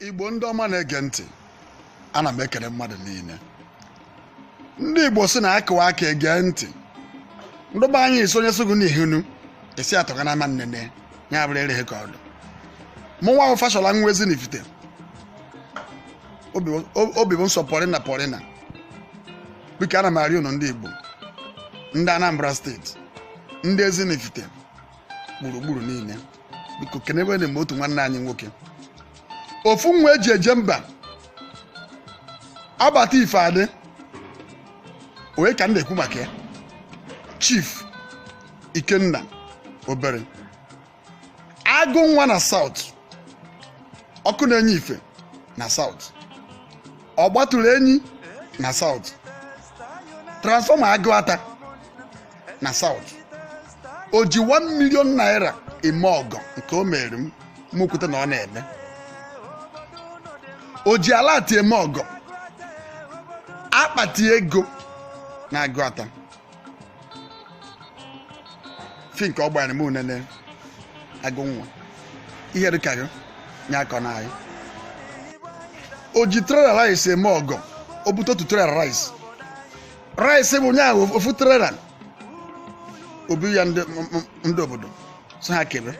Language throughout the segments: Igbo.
igbo ndị ọma na-ege ntị ana m ekele mmadụ niile ndị igbo si na akụwa aka ege ntị ndụ be anyị sị onye sị gụ n'ihinu esi atọga na ama nnene ya bụrụ ereghị ka ọdụ mụ nwa ahụ fashola nwa ezinifite Obi- o- obi bụ nsọ pọrịna pọrịna biko ana m arịọ unu ndị igbo ndị anambra state ndị ezinifite gburugburu niile biko kenebe na otu nwanne anyị nwoke ofu nwa eji eje mba abata ife adị onye ka m na-ekwu maka ya chief ikenna obere agụ nwa na south ọkụ na-enye ife na south ọ gbatụrụ enyi na south transformer aguata na South o ji 1 million naira eme ọgọ nke o mere m mụ kweta na ọ na-eme o ji alert eme ọgọ akpati ego na aguata fi nke ọ gbara m unene agụ nwa ihe dịka gị ya akọna anyị o ji trailer rice eme ọgọ o bute otu trailer rice rice bunye ofu trailer obi ya ndị m- m- ndị obodo sị ha kebe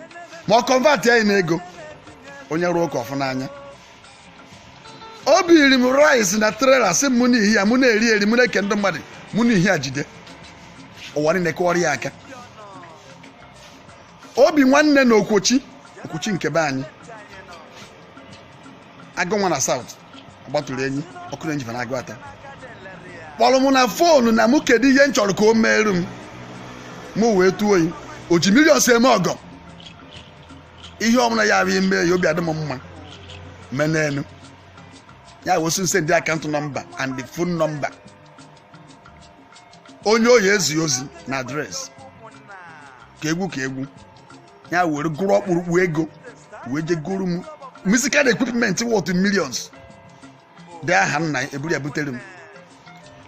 ma ọ convert ya n'ego onye rụọ ụka ọ fụ n'anya o biri m rice na trailer sị m mụ n'ihi ya mụ na-eri eri mụ na-eke ndị mmadụ mụ n'ihi ya jide ụwa niile kụọrọ ya aka obi nwanne na okwochi okwochi nke be anyị agụ nwa na south ọgbatụrụ enyi ọkụ na-enye ife na aguata kpọrọ m na phone na mụ kedu ihe m chọrọ ka o meere m mụ wee tụọ oyi o ji millions eme ọgọ ihe ọbụla ya bụ ime ya obi adị m mma mee n'elu ya wee sị m send account number and the phone number onye ọ ya-ezi ozi na address ka egwu ka egwu ya were gụrụ ọkpụrụkpụ ego wee je goro m musical equipment worth millions dị aha nna ya eburu ya butere m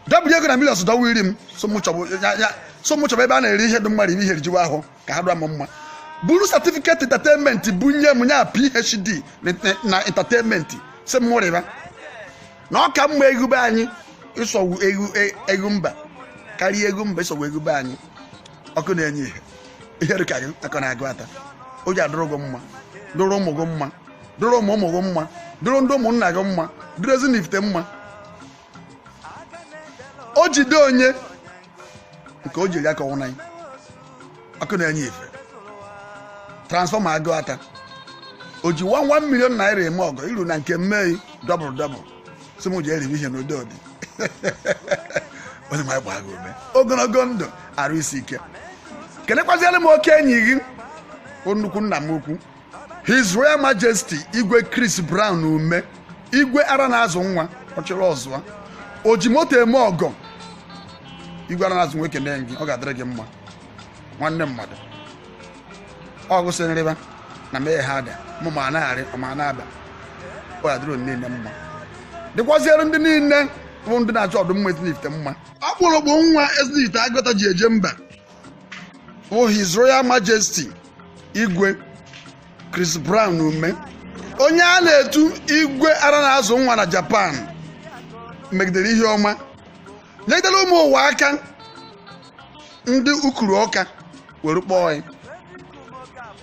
dọbụrụ ego na millions dọwa iri m sị mụ chọbụ ya ya sị mụ chọbụ ebe a na-eri ihe ndị mmadụ iri ihe rijiwa ahụ ka ha dụọ m mma buru certificate entertainment bunye m ya phd na- na entertainment sị m rịba na ọ ka mma egwu be anyị ịsọgbu egwu e- egwu mba karịa egwu mba ịsọgbu egwu be anyị ọkụ na-enye ihe ihe dị ka gị akọna aguata o ji adụrụ gị mma dụrụ ụmụ gị mma dụrụ ụmụ ụmụ gị mma dụrụ ndị ụmụnna gị mma dụrụ ezinifite mma o jide onye nke o jiri aka ọnwụna ọkụ na-enye ife transfọma Agụata o ji 1 million naira eme ọgọ iru na nke mmei dọbụl dọbụl si m ji erivi ihe n'ụdị ụdị onye nwe m gbaa gị ume ogologo ndụ arụ isi ike kenekwaziere m oke enyi gị bụ nnukwu nna m ukwu His Royal Majesty Igwe Chris Brown Ume Igwe ara na-azụ nwa ọchịrị ọzụa o ji moto eme ọgọ Igwe ara na-azụ nwa ekene gị ọ ga-adịrị gị mma nwanne mmadụ ọ gị sị m rịba na mee ha ada mụ ma na-arị ma na-aba ọ ga-adịrị niile mma dịkwaziere ndị niile bụ ndị na-achọ ọdịmma ezinifite mma ọkpụrụkpụ nwa ezinifite Agụata ji eje mba bụ His Royal Majesty Igwe Chris Brown ume onye a na-etu igwe ara na-azụ nwa na Japan megidere ihe ọma nyegidere ụmụ ụwa aka ndị ukuru ọka were kpọọ ya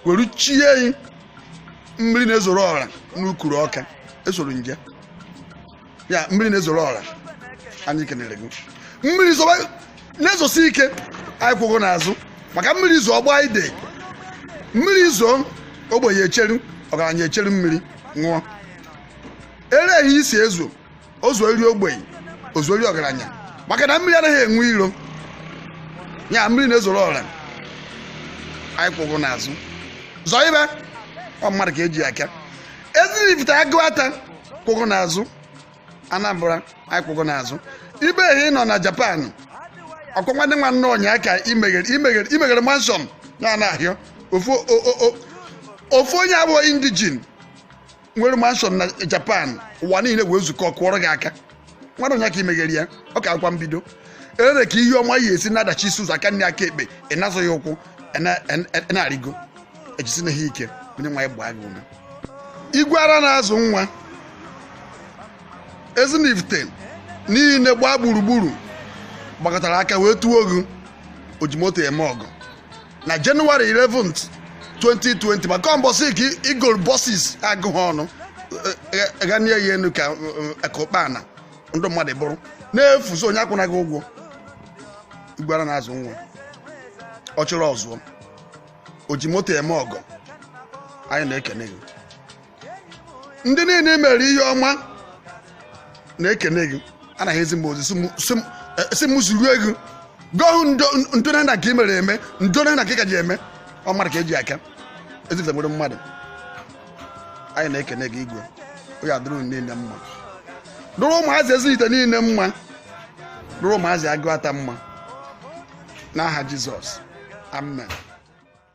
were chie ya mmiri na-ezoro ọra n'ukuru ọka esoro m jee ya mmiri na-ezoro ọra anyị kenere gị mmiri zoba na-ezosi ike anyị kwụ gị n'azụ maka mmiri zo ọ gbaa ide mmiri zo ogbenye echeru ọgaranya echeru mmiri ṅụọ ere ehi i si ezo o zoere ogbenye o zoere ọgaranya maka na mmiri anaghị enwe iro ya mmiri na-ezoro ọra anyị kwụ gị n'azụ zobe ọ mmadụ ka eji aka ezinifite Agụata kwụ gị n'azụ anambra anyị kwụ gị n'azụ ibe ehi ị nọ na japan ọ bụkwa ndị nwanne ụnyaa ka i meghere i meghere i meghere manshọn na ana ahụ ofu o- o- o- ofu onye abụhọ indijin nwere manshọn na japan ụwa niile wee zukọ kụọrọ gị aka nwanne ụnyaa ka i meghere ya ọ kakwa mbido ere ka ihe ọma ya esi na-adachisi ụzọ aka nni aka ekpe ị na-azọ ya ụkwụ ị na- ị na- ị na-arịgo ejisi na ha ike onye nwe anyị gbaa gị ume igwe ara na-azụ nwa ezinifite niile gbaa gburugburu gbakọtara aka wee tuo gị o ji moto eme ọgọ na January 11th 2020 maka mbọsị ka i golu bọsis agụghị ọnụ ghanie ya enu ka ụkpana ndị mmadụ buru n'efu sị onye akwụna gị ụgwọ igwe ara na-azụ nwa ọchịrị ọzụọ o ji moto eme ọgọ anyị na-ekene gị ndị niile mere ihe ọma na-ekene gị anaghị ezi m ozi si m zurue gị gohụ ndo na nke ị mere eme ndo na nke ị ka ji eme ọ mmadụ ka eji aka ezinifite nwere mmadụ anyị na-ekene gị igwe onye adụrụ niile mma dụrụ ụmụazị ezinifite niile mma dụrụ ụmụazị agụata mma n'aha jizọs amen